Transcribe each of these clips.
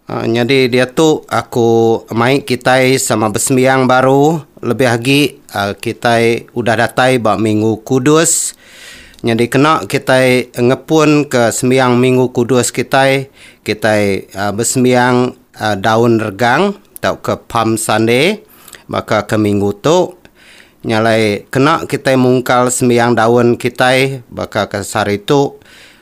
Nyadi diatu aku mai kitai sama besembiang baru lebih agi kitai udah datai ba Minggu Kudus. Nyadi kena kitai ngepunka sembiang Minggu Kudus kitai, kitai besembiang Daun Regang tauka Palm Sunday baka ke minggu tu. Nya alai kena kitai mungkal sembiang daun kitai baka ke sehari tu.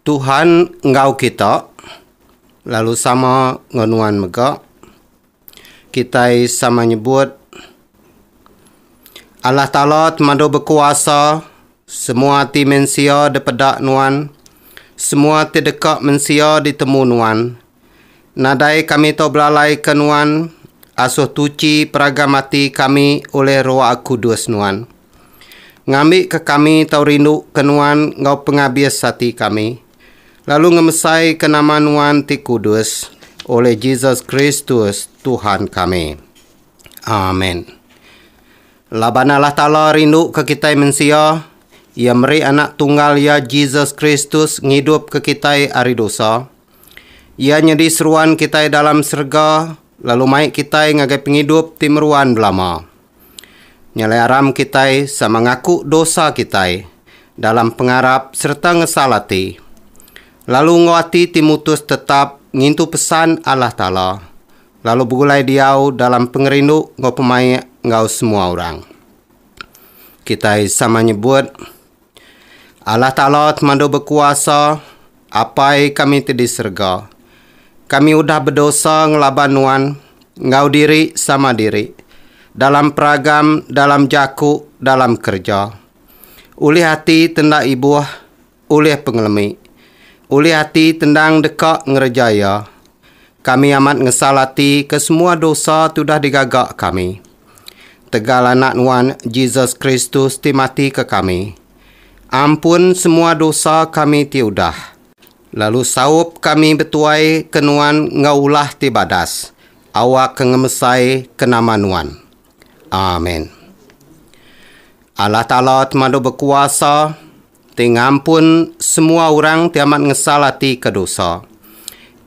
Tuhan enggau kita, lalu sama enggau nuan mega, kitai sama nyebut Allah Taala temadu bekuasa semua ati mensia dipeda nuan, semua ati deka mensia ditemu nuan. Nadai kami tau belalaika Nuan, asuh tuchi peragam ati kami ulih Roa Kudus Nuan. Ngambika kami tau rinduka Nuan enggau pengabis ati kami, lalu ngemesaika nama Nuan ti kudus, ulih Jesus Kristus, Tuhan kami. Amen. Laban Allah Taala rinduka kitai mensia, Iya meri Anak Tunggal Iya, Jesus Kristus, ngidupka kitai ari dosa. Iya nyadi seruan kitai dalam serega lalu mai kitai ngagai pengidup ti meruan belama. Nyeliaram kitai sama ngaku dosa kitai dalam pengarap sereta ngesal ati, lalu enggau ati ti mutus tetap ngintu pesan Allah Taala lalu begulai diau dalam pengerindu enggau pemaik enggau semua orang. Kitai sama nyebut. Allah Taala Temadu Bekuasa, Apai kami ti di serega, kami udah bedosa ngelaban Nuan enggau diri sama diri, dalam peragam, dalam jaku, dalam kereja, ulih ati ti enda ibuh, ulih pengelemi, ulih ati ti endang deka ngereja iya, Kami amat ngesal ati ke semua dosa ti udah digaga kami. Tegal Anak Nuan, Jesus Kristus ti mati ke kami, ampun semua dosa kami ti udah, lalu saup kami betuai ke Nuan enggau ulah ti badas, awakka ngemesai ke nama Nuan. Amen. Allah Taala Temadu Bekuasa, Ti ngampun semua orang ti amat ngesal ati ke dosa.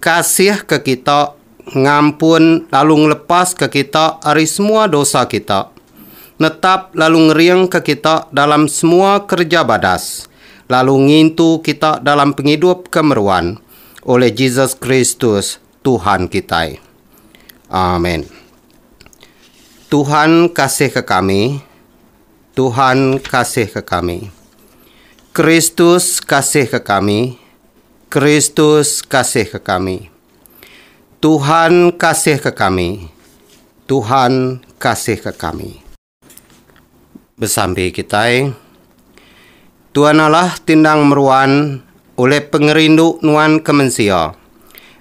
Kasih ke kita ngampun lalu ngelepas ke kita ari semua dosa kita. Netap lalu ngering ke kita dalam semua kereja badas lalu ngintu kita dalam pengidup ke meruan oleh Jesus Kristus Tuhan kitai. Amen. Tuhan kasih ke kami. Tuhan kasihka kami. Kristus kasihka kami. Kristus kasihka kami. Tuhan kasihka kami. Tuhan kasihka kami. Besampi kitai. Tuan Allah ti endang meruan oleh pengerindu nuan ke mensia.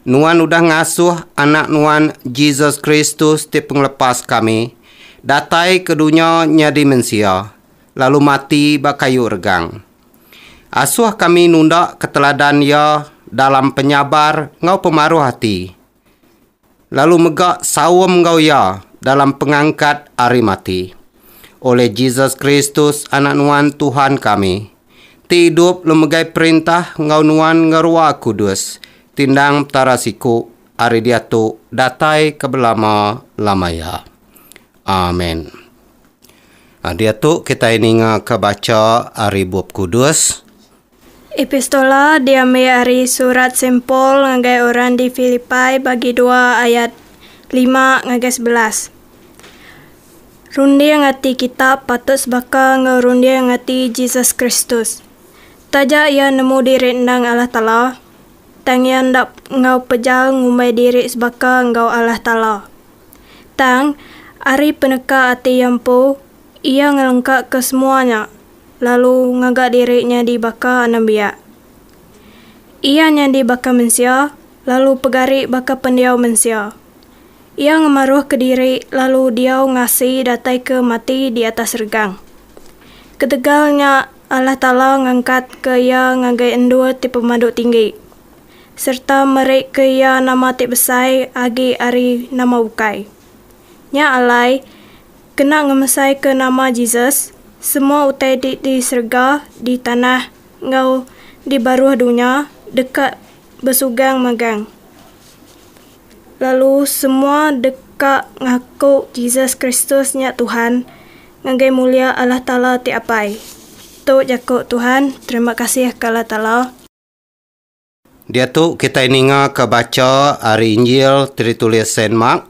Nuan udah ngasuh Anak nuan Jesus Kristus ti Pengelepas kami datai ke dunya nyadi mensia lalu mati ba kayu regang. Asuh kami nunda keteladan Iya dalam penyabar enggau pemaruh ati. lalu mega saum enggau iya dalam pengangkat ari mati. Oleh Jesus Kristus, Anak Nuan Tuhan kami, ti idup lalu megai perintah enggau Nuan enggau Rua Kudus, tindang Petara siku, ari diatu datai ke belama-lama iya. Amen. Diatu kitai ninga ke bacha ari Bup Kudus. Epistola diambi ari surat Saint Paul ngagai orang di Filipai bagi dua ayat lima ngagai sebelas. Runding ati kita patut sebaka enggau runding ati Jesus Kristus. Taja iya nemu diri endang Allah Taala, tang iya enda enggau pejal ngumbai diri sebaka enggau Allah Taala. Tang, ari peneka ati iya empu, Iya ngelengkaka semua nya, lalu ngaga diri nyadi baka anembiak. Iya nyadi baka mensia, lalu pegari baka pendiau mensia. Iya ngemaruhka diri lalu diau ngasi datai ke mati di atas regang. Ketegal nya Allah Taala ngangkatka iya ngagai endur ti pemadu tinggi, sereta merika iya nama ti besai agi ari nama bukai. Nya alai, Kena ngemesaika nama Jesus, semua utai ti di serega, di tanah, enggau di baruh dunya deka besugang megang lalu semua deka ngaku Jesus Kristus nya Tuhan ngagai mulia Allah Taala ti Apai. Tu jaku Tuhan, terima kasih ka Allah Taala. Diatu kitai ninga ke bacha ari Injil ti ditulis Saint Mark,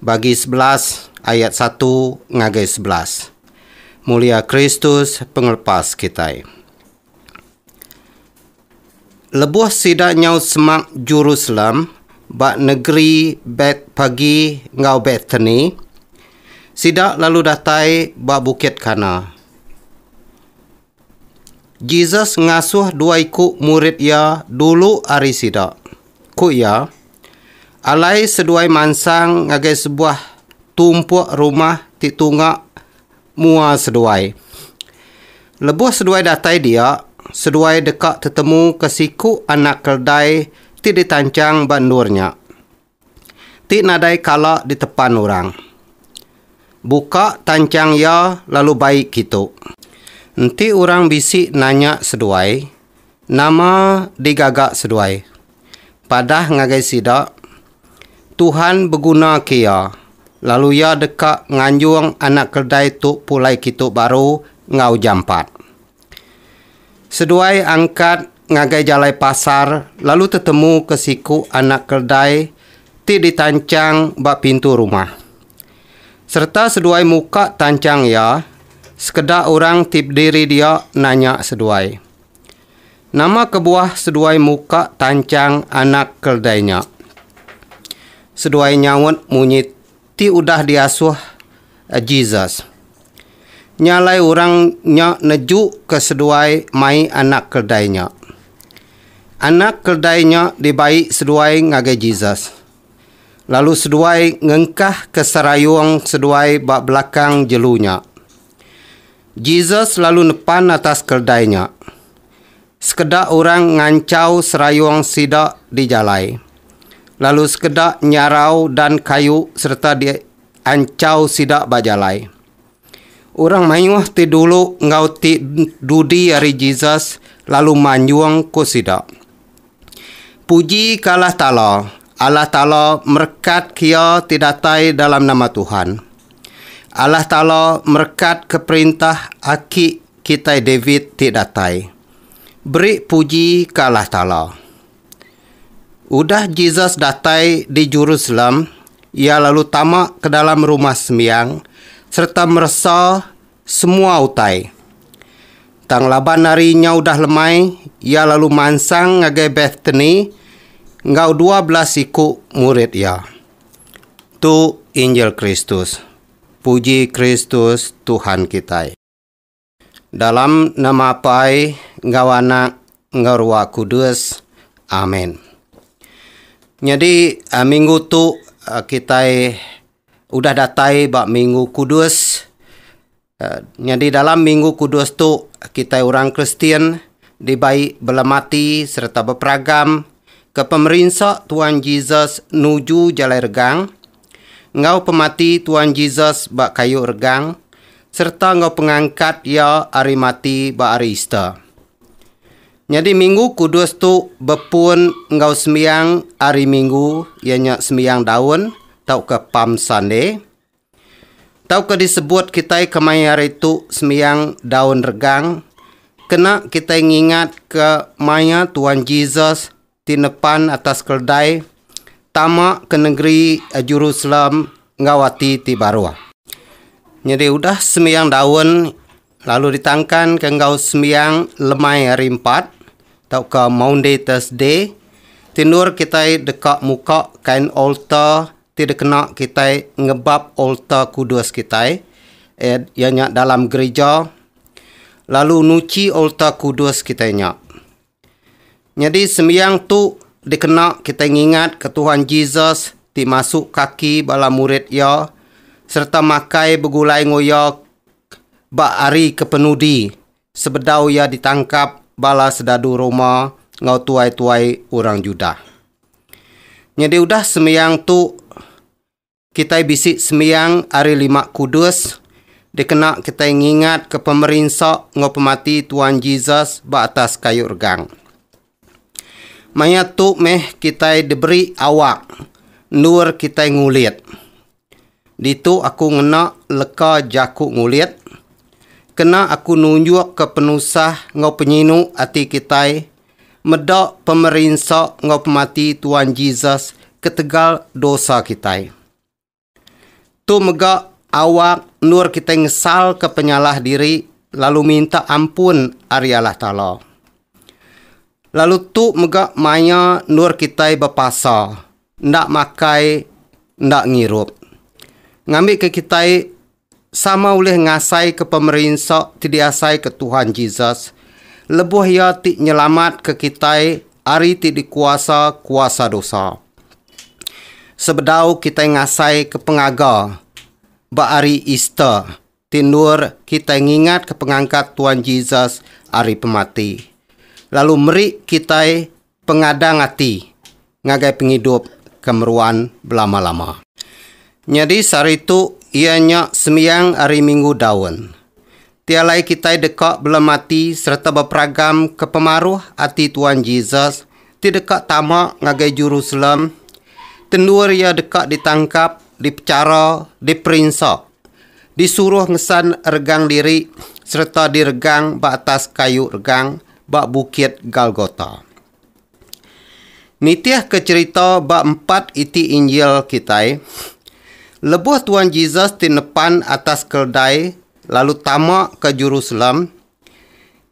bagi sebelas ayat satu ngagai sebelas. Mulia Kristus pengelepas kitai. Lebuh sida nyaut semak Jerusalem ba negeri Betpagi enggau Betani, sida lalu datai ba Bukit Kana. Jesus ngasuh dua iku murid iya dulu ari sida. Ku iya, Alai seduai mansang ngagai sebuah tumpuk rumah ti tunga mua seduai. Lebuh seduai datai dia, seduai deka tetemu ke siku anak keldai ti ditanchang ba endur nya. ti nadai kala ditepan orang. Buka tanchang iya lalu bai kitu. Enti orang bisi nanya seduai, nama digaga seduai? Padah ngagai sida, Tuhan begunaka iya, lalu iya deka nganjung anak keldai tu pulai kitu baru enggau jampat. Seduai angkat ngagai jalai pasar lalu tetemu ke siku anak keldai ti ditanchang ba pintu rumah. Sereta seduai muka tanchang iya, sekeda orang ti bediri dia nanya seduai, Nama kebuah seduai muka tanchang anak keldai nya? Seduai nyaut munyi ti udah diasuh Jesus. Nya alai orang nya nejuka seduai mai anak keldai nya. Anak keldai nya dibai seduai ngagai Jesus, lalu seduai ngengkahka serayung seduai ba belakang jelu nya. Jesus lalu nepan atas keldai nya. Sekeda orang nganchau serayung sida di jalai, lalu sekeda nyarau dan kayu sereta dianchau sida ba jalai. Orang mayuh ti dulu enggau ti dudi ari Jesus lalu manjung ku sida, Puji ke Allah Taala! Allah Taala merekat ke iya ti datai dalam nama Tuhan! Allah Taala merekat ke perintah aki Kitai David ti datai, beri puji ke Allah Taala. Udah Jesus datai di Jerusalem, iya lalu tama ke dalam Rumah Sembiang sereta meresa semua utai. Tang laban hari nya udah lemai, iya lalu mansang ngagai Betani enggau dua belas iku murid iya. Tu injil Kristus. Puji Kristus, Tuhan kitai. Dalam nama Apai enggau Anak enggau Ruah Kudus. Amen. Nyadi minggu tu kitai udah datai ba Minggu Kudus. Nyadi dalam Minggu Kudus tu kitai orang Kristian dibai belemati sereta beperagam ke pemerinsa Tuan Jesus nuju jalai regang enggau pemati Tuan Jesus ba kayu regang sereta enggau pengangkat Iya ari mati ba Hari Easter. Nyadi Minggu Kudus tu bepun enggau sembiang Hari Minggu iya nya Sembiang Daun tauka Palm Sunday tauka disebut kitai kemaya hari tu Sembiang Daun Regang kena kitai ngingatka maya Tuan Jesus ti nepan atas keledai tama ke nengeri Jerusalem enggau ati ti baruh. Nyadi udah sembiang daun lalu ditangkanka enggau sembiang lemai hari empat tauka Maundy Thursday, tindur kitai deka muka kain alta ti dikena kitai ngebap alta kudus kitai iya nya dalam gerija lalu nuchi alta kudus kitai nya. Nyadi sembiang tu dikena kitai ngingatka Tuhan Jesus ti masuk kaki bala murid iya sereta makai begulai enggau iya ba hari ke penudi sebedau iya ditangkap bala sedadu Roma enggau tuai-tuai orang Judah. Nyadi udah sembiang tu Kitai bisi sembiang ari lima kudus dikena kitai ngingatka pemerinsa enggau pemati Tuan Jesus ba atas kayu regang. Maya tu meh kitai diberi awak endur kitai ngulit. Ditu aku ngena leka jaku ngulit kena aku nunjukka penusah enggau penyinu ati kitai Meda pemerinsa enggau pemati Tuan Jesus ketegal dosa kitai. Tu mega awak endur kitai ngesalka penyalah diri lalu minta ampun ari Allah Taala. Lalu tu mega maya endur kitai bepasa enda makai enda ngirup. Ngambika kitai Sama ulih ngasaika pemerinsa ti diasaika Tuhan Jesus lebuh Iya ti nyelamatka kitai ari ti dikuasa kuasa dosa. Sebedau kitai ngasaika pengaga ba Hari Easter ti endur kitai ngingatka pengangkat Tuhan Jesus ari pemati, lalu meri kitai pengadang ati ngagai pengidup ke meruan belama-lama. Nyadi sehari tu iya nya sembiang Hari Minggu Daun. Ti alai kitai deka belem ati sereta beperagam ke pemaruh ati Tuan Jesus ti deka tama ngagai Jerusalem tendur iya deka ditangkap, dipechara, diperinsa Disuruh ngesan regang diri sereta diregang ba atas kayu regang ba Bukit Galgota. Nitihka cherita ba empat iti Injil kitai, lebuh Tuan Jesus ti nepan atas keldai lalu tama ke Jerusalem,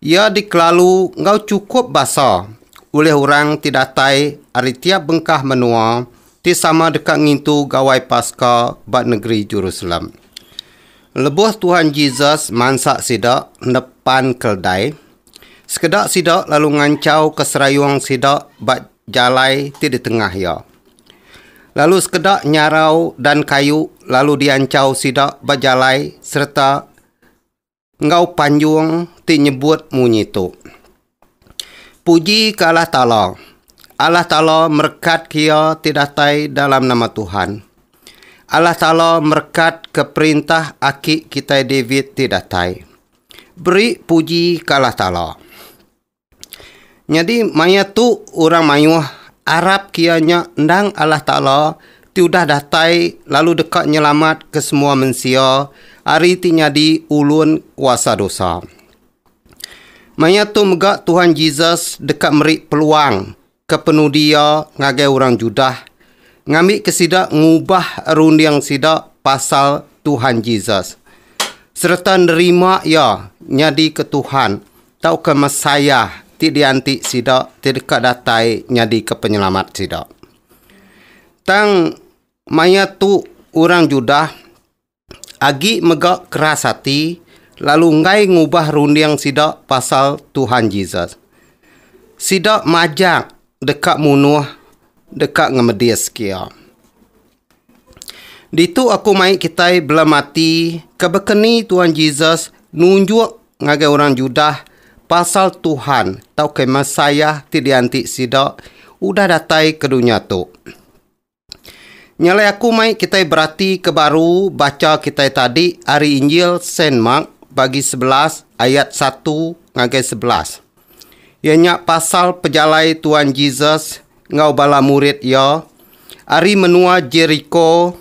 Iya dikelalu enggau chukup basa ulih orang ti datai ari tiap bengkah menua ti sama deka ngintu Gawai Paska ba negeri Jerusalem. Lebuh Tuhan Jesus mansa sida endep pan keldai, sekeda sida lalu nganchauka serayung sida ba jalai ti di tengah iya. Lalu sekeda nyarau dan kayu lalu dianchau sida ba jalai sereta enggau panjung ti nyebut munyi tu, Puji ke Allah Taala, Allah Taala merekat ke iya ti datai dalam nama Tuhan. Allah Taala merekat ke perintah aki kitai David ti datai. Beri puji ke Allah Taala! Nyadi maya tu orang mayuh arap kiya nya endang Allah Taala ti udah datai lalu deka nyelamat ke semua mensia ari ti nyadi ulun kuasa dosa. Maya tu mega Tuhan Jesus deka meri peluang Kepenudi iya ngagai orang Judah ngambika sida ngubah runding sida pasal Tuhan Jesus sereta nerima iya nyadika Tuhan tauka Messiah ti dianti sida ti deka datai nyadika Penyelamat sida. Tang maya tu orang Judah agi mega keras ati lalu enggai ngubah runding sida pasal Tuhan Jesus. Sida majak deka munuh deka ngemedis kia. Ditu aku mai kitai belem ati ke bekeni Tuhan Jesus nunjuk ngagai orang Judah pasal Tuhan tauka Messiah ti dianti sida udah datai ke dunya tu. Nyalai aku mai kitai berati ke baru bacha kitai tadi ari Injil Saint Mark bagi sebelas ayat satu ngagai sebelas. Iya nya pasal pejalai Tuan Jesus enggau bala murid iya ari menua Jeriko.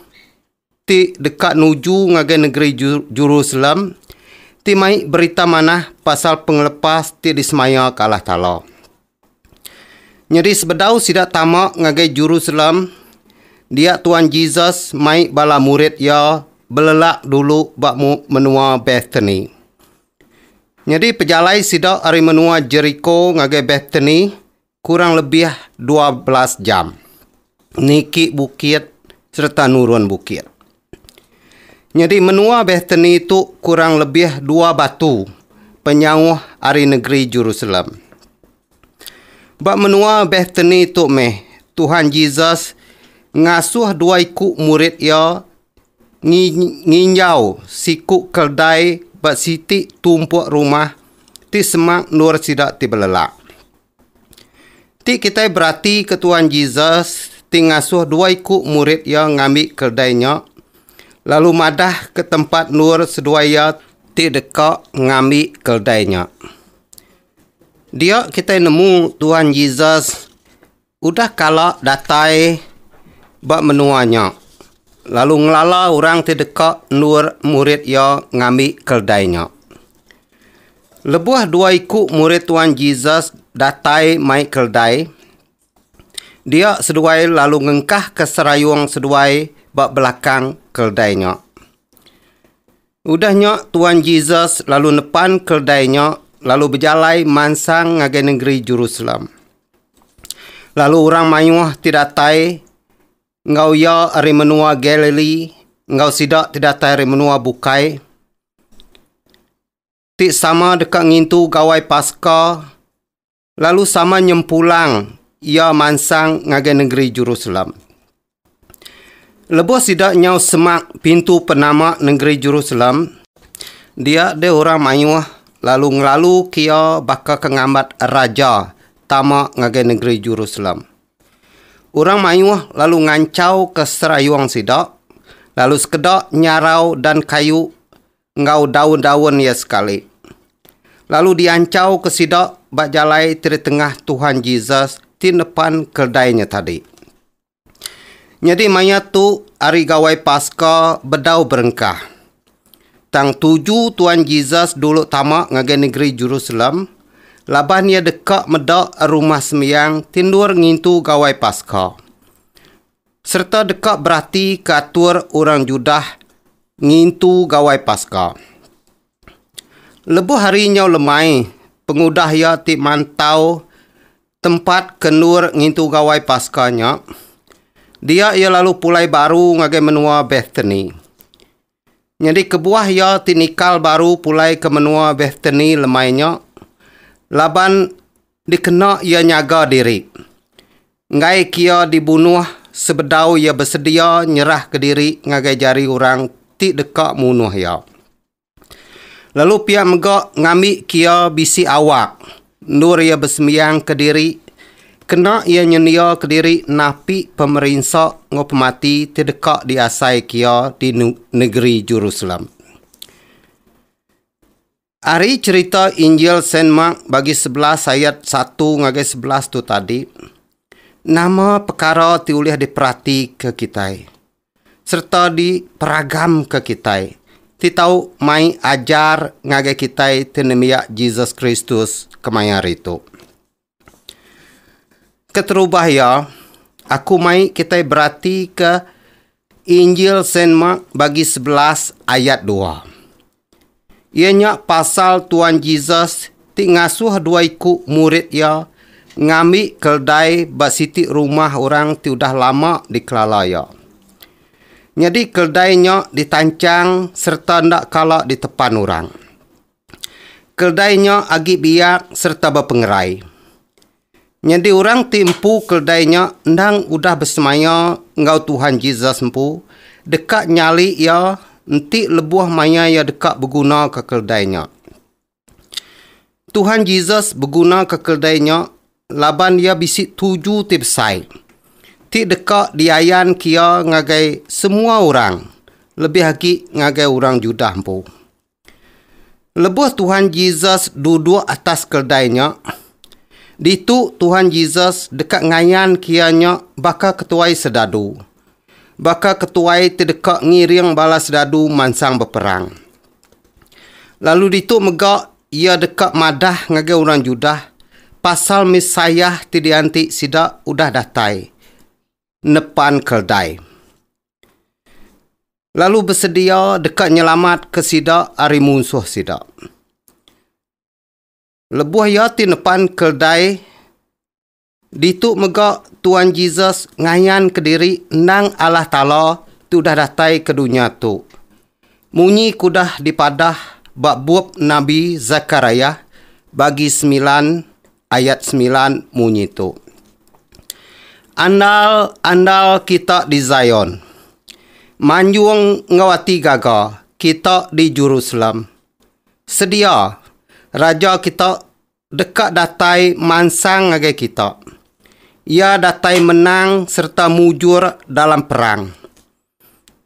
ti deka nuju ngagai negeri Jerusalem ti mai berita manah pasal pengelepas ti disemayaka Allah Taala. Nyadi sebedau sida tama ngagai Jerusalem, dia Tuan Jesus mai bala murid iya belelak dulu ba menua Bethany. Nyadi pejalai sida ari menua Jeriko ngagai Bethany, Kurang lebih dua belas jam niki bukit sereta nurun bukit. Nyadi menua Bethany tu kurang lebih dua batu penyauh ari negeri Jerusalem. Ba menua Bethany tu meh Tuhan Jesus ngasuh dua iku murid iya Ngi nginjau siku keldai ba siti tumpuk rumah ti semak endur sida ti belelak. Ti kitai beratika Tuan Jesus ti ngasuh dua iku murid iya ngambi keldai nya lalu madah ke tempat endur seduai iya ti deka ngambi keldai nya. Dia kitai nemu Tuan Jesus. Udah kala datai ba menua nya, lalu ngelala orang ti deka endur murid iya ngambi keldai nya. Lebuh dua iku murid Tuan Jesus datai mai keldai, dia seduai lalu ngengkahka serayung seduai ba belakang keldai nya. Udah nya Tuan Jesus lalu nepan keldai nya lalu bejalai mansang ngagai nengeri Jerusalem. Lalu orang mayuh ti datai enggau iya ari menua Galilee enggau sida ti datai ari menua bukai ti sama deka ngintu Gawai Paska Lalu sama nyempulang iya mansang ngagai nengeri Jerusalem. Lebuh sida nyau semak pintu penama nengeri Jerusalem, dia deh orang mayuh lalu ngelalu ke iya baka ke ngambat raja tama ngagai nengeri Jerusalem. Orang mayuh lalu nganchau ke serayung sida, lalu sekeda nyarau dan kayu enggau daun-daun iya sekali, lalu dianchauka sida ba jalai ti di tengah Tuhan Jesus ti nepan keldai nya tadi. Nyadi maya tu Hari Gawai Paska bedau berengkah. Tang tuju Tuhan Jesus dulu tama ngagai negeri Jerusalem laban iya deka meda rumah sembiang ti endur ngintu Gawai Paska. Sereta deka berati ke atur orang Judah ngintu Gawai Paska. Lebuh hari nyau lemai, pengudah iya ti mantau tempat ke endur ngintu Gawai Paska nya, dia iya lalu pulai baru ngagai menua Betani. Nyadi kebuah iya ti nikal baru pulai ke menua Bethany lemai nya, laban dikena iya nyaga diri. Enggai kia dibunuh sebedau iya besedia nyerahka diri ngagai jari orang ti deka munuh iya. Lalu pia mega ngambika iya bisi awak. Endur iya besembiang kediri, kena iya nyendia kediri napi pemerinsa enggau pemati ti deka diasaika iya di negeri Jerusalem. Ari cherita Injil Saint Mark bagi sebelas ayat satu ngagai sebelas tu tadi, nama pekara ti ulih diperatika kitai? sereta diperagamka kitai ti tau mai ajar ngagai kitai ti nembiak Jesus Kristus kemaya hari tu. Keterubah iya, aku mai kitai beratika Injil Saint Mark bagi sebelas ayat dua. Iya nya pasal Tuan Jesus ti ngasuh dua iku murid iya ngambi keldai ba siti rumah orang ti udah lama dikelala iya. Nyadi keldai nya ditanchang sereta enda kala ditepan orang. Keldai nya agi biak sereta bepengerai. Nyadi orang ti empu keldai nya endang udah besemaya enggau Tuhan Jesus empu deka nyali iya enti lebuh maya iya deka begunaka keldai nya. Tuhan Jesus begunaka keldai nya laban iya bisi tuju ti besai ti deka diayanka iya ngagai semua orang lebih agi ngagai orang Judah empu. Lebuh Tuhan Jesus duduk atas keldai nya, ditu Tuhan Jesus deka ngayanka iya nya baka ketuai sedadu. Baka ketuai ti deka ngiring bala sedadu mansang beperang. Lalu ditu mega iya deka madah ngagai orang Judah pasal Messiah ti dianti sida udah datai, nepan keldai. lalu besedia deka nyelamatka sida ari munsuh sida. Lebuh iya ti nepan keledai, ditu mega Tuan Jesus ngayanka diri endang Allah Taala ti udah datai ke dunya tu. Munyi ke udah dipadah ba bup nabi Zechariah bagi semilan ayat semilan munyi tu, Andal-andal kita di Zion, manjung enggau ati gaga kita di Jerusalem. Sedia, Raja kita deka datai mansang ngagai kita. Iya datai menang sereta mujur dalam perang.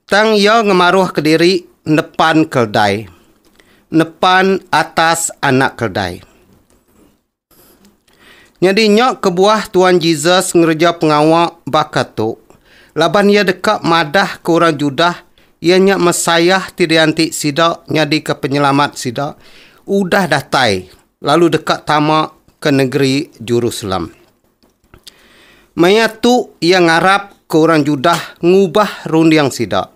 Tang iya ngemaruhka diri nepan keldai, nepan atas anak keldai. Nyadi nya kebuah Tuan Jesus ngereja pengawa baka tu, laban iya deka madahka orang Judah iya nya Messiah ti dianti sida nyadika Penyelamat sida udah datai lalu deka tama ke negeri Jerusalem. Maya tu iya ngarapka orang Judah ngubah runding sida.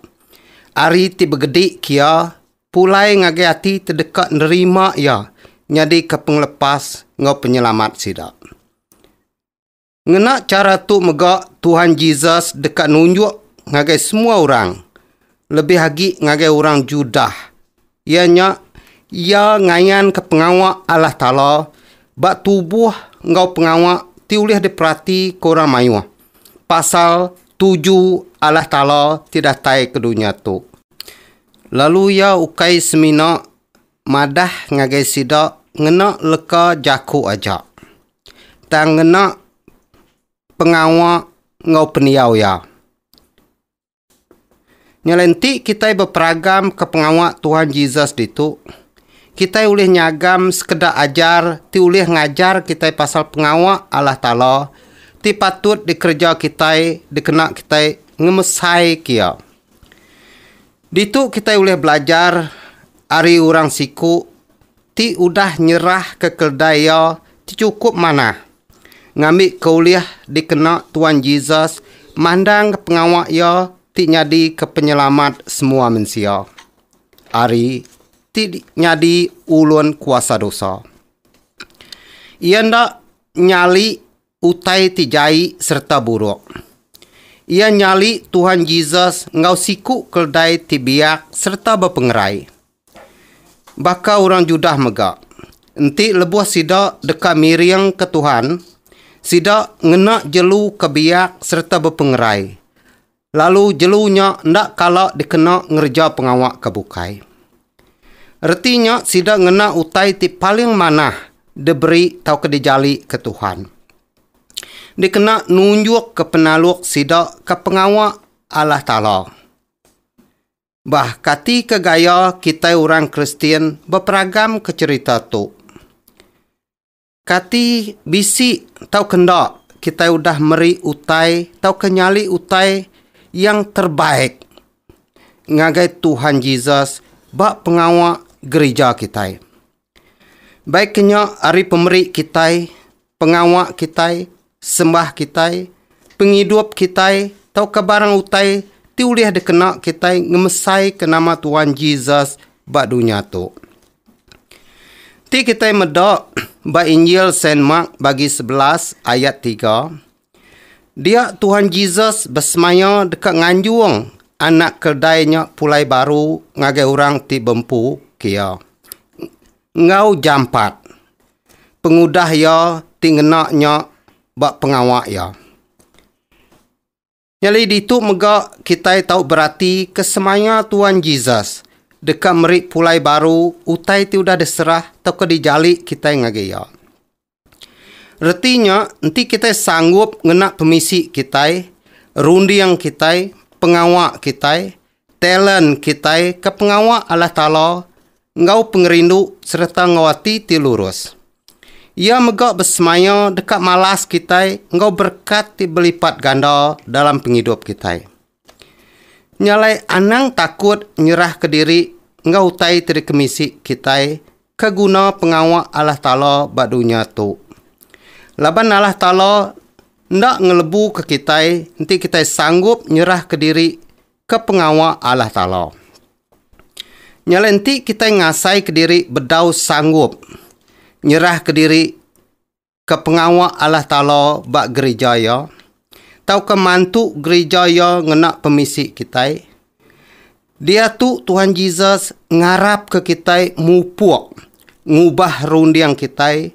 Ari ti begedi kia, pulai ngagai ati ti deka nerima iya nyadika pengelepas enggau penyelamat sida. Ngena chara tu mega Tuhan Jesus deka nunjuk ngagai semua orang, lebih agi ngagai orang Judah, Iya nya, iya ngayanka pengawa Allah Taala ba tubuh enggau pengawa ti ulih diperatika orang mayuh pasal tuju Allah Taala ti datai ke dunya tu. Lalu iya ukai semina madah ngagai sida ngena leka jaku aja, tang ngena pengawa enggau pendiau iya. Ngelenti kitai beperagamka pengawa Tuhan Jesus ditu, kitai ulih nyagam sekeda ajar ti ulih ngajar kitai pasal pengawa Allah Taala ti patut dikereja kitai dikena kitai ngemesaika Iya. Ditu kitai ulih belajar ari orang siku ti udah nyerahka keldai iya ti chukup manah ngambika ulih dikena Tuan Jesus mandangka pengawa iya ti nyadika Penyelamat semua mensia, ari ti nyadi ulun kuasa dosa. Iya enda nyali Utai ti jai sereta buruk. Iya nyali Tuhan Jesus enggau siku keldai ti biak sereta bepengerai. Baka orang Judah mega, enti lebuh sida deka miringka Tuhan, sida ngena jelu ke biak sereta bepengerai Lalu jelu nya enda kala dikena ngereja pengawa ke bukai. Reti nya sida ngena utai ti paling manah diberi tauka dijali ke Tuhan. Dikena nunjukka penaluk sida ke pengawa Allah Taala. Bah katika gaya kitai orang Kristian beperagamka cherita tu? Kati bisi tauka enda kitai udah meri utai tauka nyali utai yang terbaik ngagai Tuhan Jesus ba pengawa gerija kitai? Baiknya ari pemeri kitai, pengawa kitai, Sembah kitai, pengidup kitai, tauka barang utai ti ulih dikena kitai ngemesaika nama Tuhan Jesus ba dunya tu. Ti kitai meda ba Injil Saint Mark bagi sebelas ayat tiga, dia Tuhan Jesus besemaya deka nganjung anak keldai nya pulai baru ngagai orang ti bempu, kia enggau jampat. pengudah iya ti ngena nya ba pengawa iya. Nyadi ditu mega kitai tau berati ke semaya Tuan Jesus deka meri pulai baru utai ti udah diserah tauka dijali kitai ngagai iya. Reti nya enti kitai sanggup ngena pemisi kitai, runding kitai, pengawa kitai Talent kitai ke pengawa Allah Taala enggau pengerindu sereta enggau ati ti lurus. Iya mega besemaya deka malas kitai enggau berekat ti belipat ganda dalam pengidup kitai. Nya alai anang takut nyerahka diri enggau utai ti dikemisi kitai Ke guna pengawa Allah Taala ba dunya tu. Laban Allah Taala enda ngelebuka kitai enti kitai sanggup nyerahka diri ke pengawa Allah Taala. Nya alai enti kitai ngasaika diri bedau sanggup nyerahka diri ke pengawa Allah Taala ba gerija Iya tauka mantu gerija Iya ngena pemisi kitai, diatu Tuhan Jesus ngarapka kitai mupuk ngubah runding kitai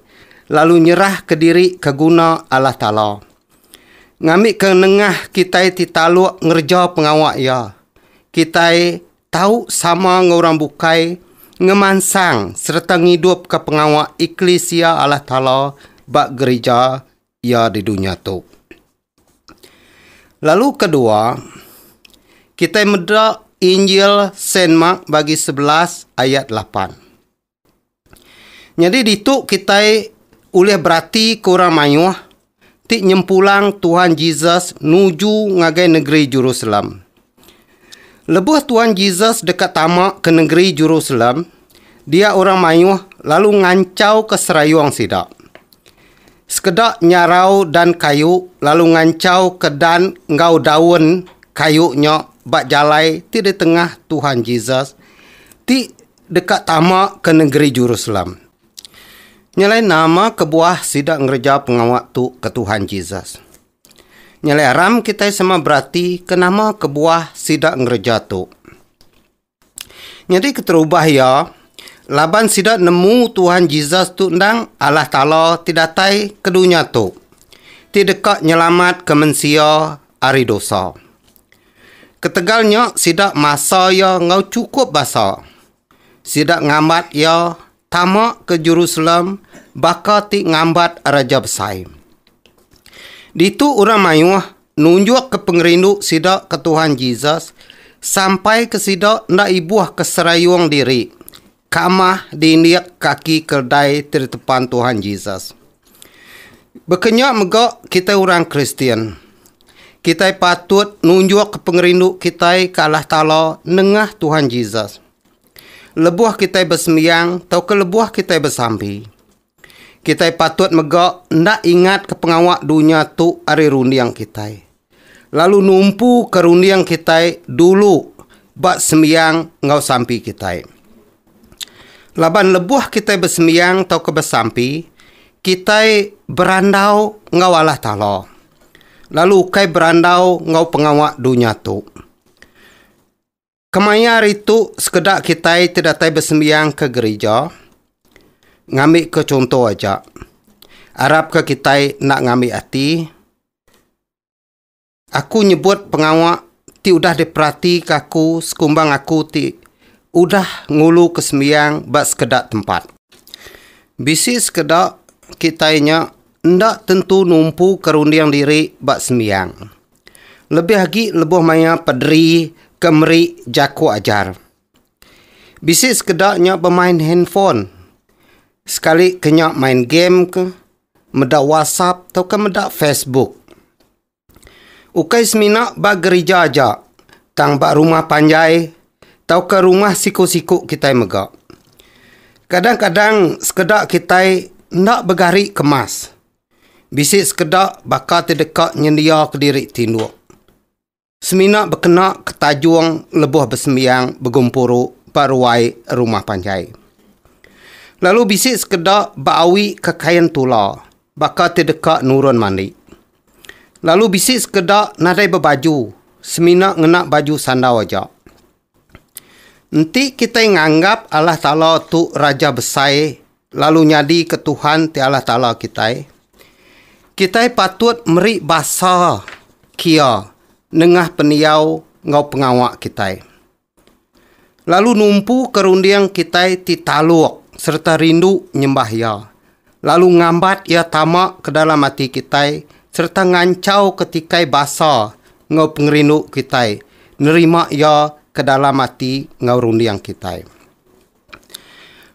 lalu nyerahka diri ke guna Allah Taala. Ngambika nengah kitai ti taluk ngereja pengawa Iya, kitai Tau sama enggau orang bukai ngemansang sereta ngidupka pengawa eklisia Allah Taala ba gerija Iya di dunya tu. Lalu kedua, kitai meda Injil Saint Mark bagi sebelas ayat lapan. Nyadi ditu kitai ulih beratika orang mayuh ti nyempulang Tuhan Jesus nuju ngagai negeri Jerusalem. Lebuh Tuhan Jesus deka tama ke negeri Jerusalem, dia orang mayuh lalu nganchauka serayung sida. Sekeda nyarau dan kayu lalu nganchauka dan enggau daun kayu nya ba jalai ti di tengah Tuhan Jesus ti deka tama ke nengeri Jerusalem. Nya alai nama kebuah sida ngereja pengawa tu ke Tuhan Jesus? Nya alai aram kitai sama berati ke nama kebuah sida ngereja tu. Nyadi keterubah iya, laban sida nemu Tuhan Jesus tu endang Allah Taala ti datai ke dunya tu, ti deka nyelamatka mensia ari dosa. Ketegal nya sida masa iya enggau chukup basa. Sida ngambat iya tama ke Jerusalem baka ti ngambat raja besai. Ditu orang mayuh nunjukka pengerindu sida ke Tuhan Jesus sampai ke sida enda ibuh ke serayung diri Kamah diindik kaki keldai ti ditepan Tuhan Jesus. Baka nya mega kitai orang Kristian, kitai patut nunjukka pengerindu kitai ke Allah Taala nengah Tuhan Jesus lebuh kitai besembiang tauka lebuh kitai besampi. Kitai patut mega enda ingatka pengawa dunya tu ari runding kitai, lalu numpuka runding kitai dulu ba sembiang enggau sampi kitai. Laban lebuh kitai besembiang tauka besampi, kitai berandau enggau Allah Taala, lalu ukai berandau enggau pengawa dunya tu. Kemaya hari tu sekeda kitai ti datai besembiang ke gerija ngambika chunto aja. Arapka kitai enda ngambi ati aku nyebut pengawa ti udah diperatika aku sekumbang aku ti udah nguluka sembiang ba sekeda tempat. Bisi sekeda kitai nya enda tentu numpuka runding diri ba sembiang. Lebih agi lebuh maya Pedri ke meri jaku ajar. Bisi sekeda nya bemain handphone. Sekali ke nya main game ke, meda WhatsApp tauka meda Facebook. Ukai semina ba gerija aja tang ba rumah panjai tauka rumah siku-siku kitai mega. Kadang-kadang sekeda kitai enda begari kemas. Bisi sekeda baka ti deka nyendia kediri tinduk semina bekena ke tajung lebuh besembiang begempuru ba ruai rumah panjai. Lalu bisi sekeda beawi ke kain tula baka ti deka nurun mandi. Lalu bisi sekeda nadai bebaju semina ngena baju sandau aja. Enti kitai nganggap Allah Taala tu Raja Besai lalu nyadika Tuhan ti Allah Taala kitai, kitai patut meri basa kiya nengah pendiau enggau pengawa kitai. Lalu numpuka runding kitai ti taluk sereta rindu nyembah Iya. lalu ngambat iya tama ke dalam ati kitai sereta nganchauka tikai basa enggau pengerindu kitai nerima iya ke dalam ati enggau runding kitai.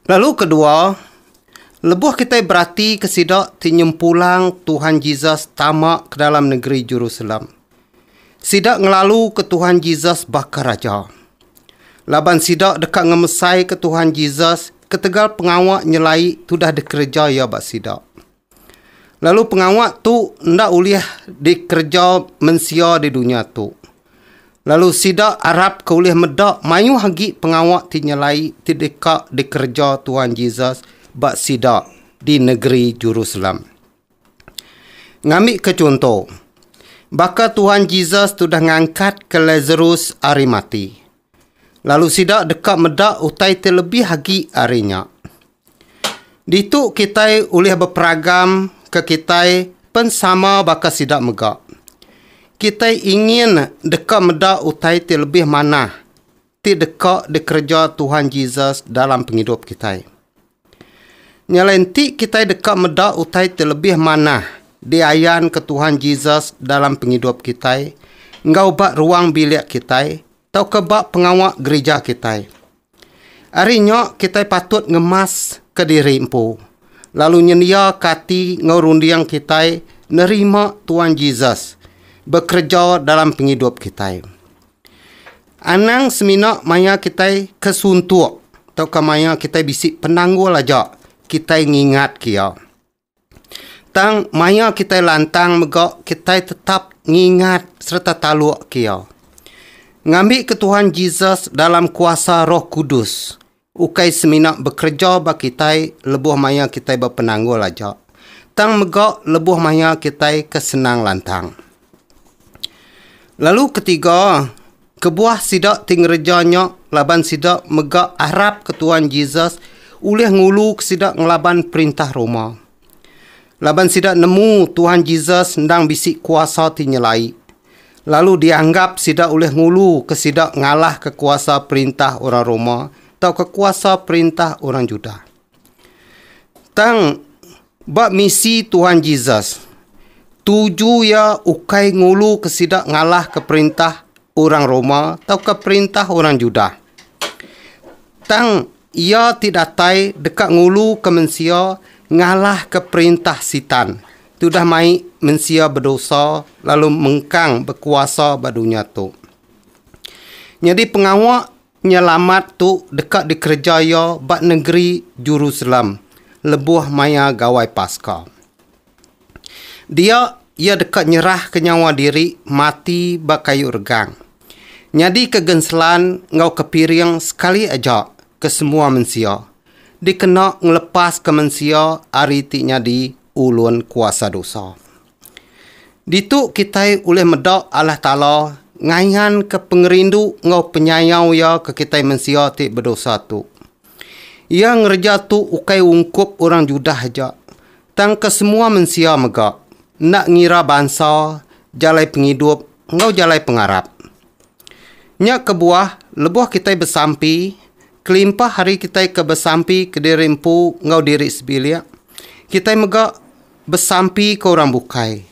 Lalu kedua, lebuh kitai beratika sida ti nyempulang Tuhan Jesus tama ke dalam negeri Jerusalem, Sida ngelaluka Tuhan Jesus baka Raja. Laban sida deka ngemesaika Tuhan Jesus ketegal pengawa nyelai tudah dikereja Iya ba sida. Lalu pengawa tu enda ulih dikereja mensia di dunya tu. Lalu sida arapka ulih meda mayuh agi pengawa ti nyelai ti deka dikereja Tuhan Jesus ba sida di negeri Jerusalem. Ngambika chunto, baka Tuhan Jesus tudah ngangkatka Lasarus ari mati, lalu sida deka meda utai ti lebih agi ari nya. Ditu kitai ulih beperagam ke kitai pen sama baka sida mega. Kitai ingin deka meda utai ti lebih manah. ti deka dikereja Tuhan Jesus dalam pengidup kitai. Nya alai enti kitai deka meda utai ti lebih manah diayanka Tuhan Jesus dalam pengidup kitai enggau ba ruang bilik kitai tauka ba pengawa gerija kitai. Ari nya kitai patut ngemaska diri empu lalu nyendiaka ati enggau runding kitai nerima Tuhan Jesus bekereja dalam pengidup kitai. Anang semina maya kitai ke suntuk tauka maya kitai bisi penanggul aja kitai ngingatka iya. Tang maya kitai lantang mega kitai tetap ngingat sereta talukka iya. Ngambika Tuhan Jesus dalam kuasa Roh Kudus, Ukai semina bekereja ba kitai lebuh maya kitai bepenanggul aja, tang mega lebuh maya kitai ke senang lantang. Lalu ketiga, kebuah sida ti ngereja nya laban sida mega arapka Tuan Jesus ulih nguluka sida ngelaban perintah Roma. Laban sida nemu Tuhan Jesus endang bisi kuasa ti nyelai, lalu dianggap sida ulih ngulu ke sida ngalahka kuasa perintah orang Roma tauka kuasa perintah orang Judah. Tang ba misi Tuhan Jesus, tuju iya ukai ngulu ke sida ngalahka perintah orang Roma tauka perintah orang Judah. Tang Iya ti datai deka nguluka mensia ngalahka perintah Sitan, ti udah mai mensia bedosa lalu mengkang bekuasa ba dunya tu. Nyadi pengawa nyelamat tu deka dikereja iya ba nengeri Jerusalem lebuh maya Gawai Paska. Dia iya deka nyerahka nyawa diri mati ba kayu regang, nyadika genselan enggau kepiring sekali aja ke semua mensia, dikena ngelepaska mensia ari ti nyadi ulun kuasa dosa. Ditu kitai ulih meda Allah Taala ngayanka pengerindu enggau penyayau Iya ke kitai mensia ti bedosa tu. Iya ngereja tu ukai ungkup orang Judah aja, Tang kesemua mensia mega, enda ngira bansa, jalai pengidup enggau jalai pengarap. Nya kebuah, lebuh kitai besampi, kelimpah ari kitai ke besampi kediri empu enggau diri sebilik, kitai mega besampi ke orang bukai,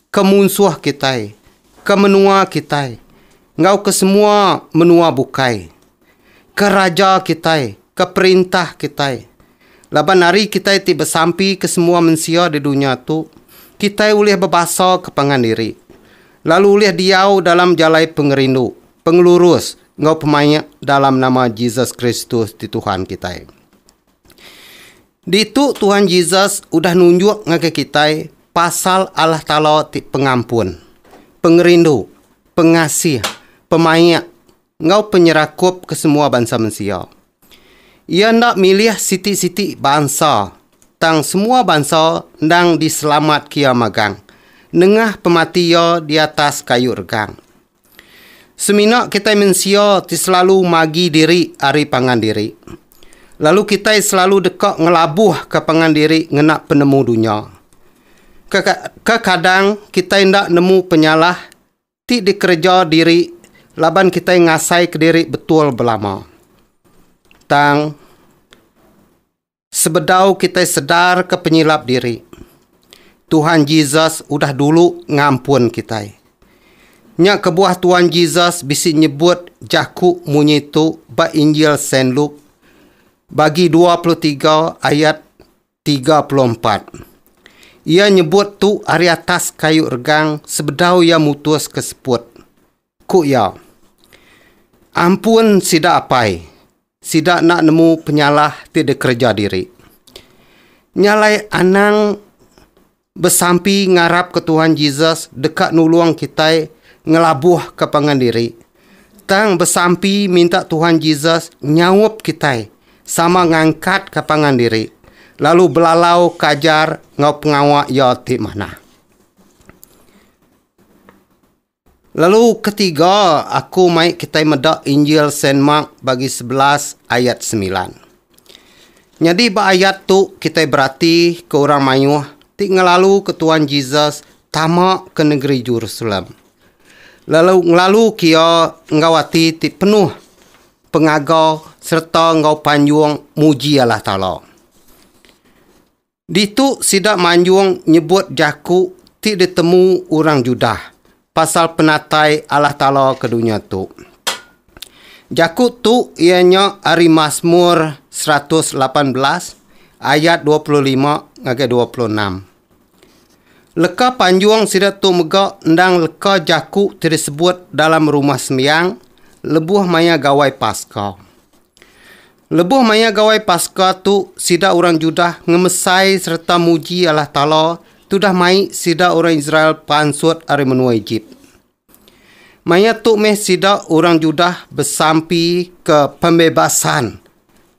ke munsuh kitai, ke menua kitai enggau ke semua menua bukai, ke raja kitai, ke perintah kitai. Laban ari kitai ti besampi ke semua mensia di dunya tu, kitai ulih bebasa ke pangan diri, lalu ulih diau dalam jalai pengerindu, pengelurus enggau pemaik dalam nama Jesus Kristus ti Tuhan kitai. Ditu Tuhan Jesus udah nunjuk ngagai kitai pasal Allah Taala ti pengampun, pengerindu, pengasih, pemaik, enggau penyerakup ke semua bansa mensia. Iya enda milih siti-siti bansa, tang semua bansa endang diselamat ke iya magang nengah pemati iya di atas kayu regang. Semina kitai mensia ti selalu magi diri ari pangan diri, lalu kitai selalu deka ngelabuhka pangan diri ngena penemu dunya. Kekadang kitai enda nemu penyalah ti dikereja diri laban kitai ngasaika diri betul belama. Tang. Sebedau kitai sedarka penyilap diri, Tuhan Jesus udah dulu ngampun kitai. Nya kebuah Tuhan Jesus bisi nyebut jaku munyi tu ba Injil Saint Luke bagi dua puluh tiga ayat tiga puluh empat. Iya nyebut tu ari atas kayu regang sebedau iya mutuska seput. Ku iya, Ampun sida apai, sida enda nemu penyalah ti dikereja diri. Nya alai anang besampi ngarapka Tuhan Jesus deka nulung kitai ngelabuhka pangan diri, tang besampi minta Tuhan Jesus nyaup kitai sama ngangkatka pangan diri lalu belalauka ajar enggau pengawa Iya ti manah. Lalu ketiga aku mai kitai meda Injil Saint Mark bagi sebelas ayat semilan. Nyadi ba ayat tu kitai berati ke orang mayuh ti ngelalu ke Tuan Jesus tama ke negeri Jerusalem lalu ngelalu ke iya enggau ati ti penuh pengaga sereta enggau panjung muji Allah Taala. Ditu sida manjung nyebut jaku ti ditemu orang Judah pasal penatai Allah Taala ke dunya tu. Jaku tu iya nya ari Masmur seratus lapan belas ayat dua puluh lima ngagai dua puluh enam. Leka panjung sida tu mega endang leka jaku ti disebut dalam Rumah Sembiang lebuh maya Gawai Paska. Lebuh maya Gawai Paska tu sida orang Judah ngemesai sereta muji Allah Taala tudah mai sida orang Israel pansut ari menua Ejip. Maya tu meh sida orang Judah besampi ke pembebasan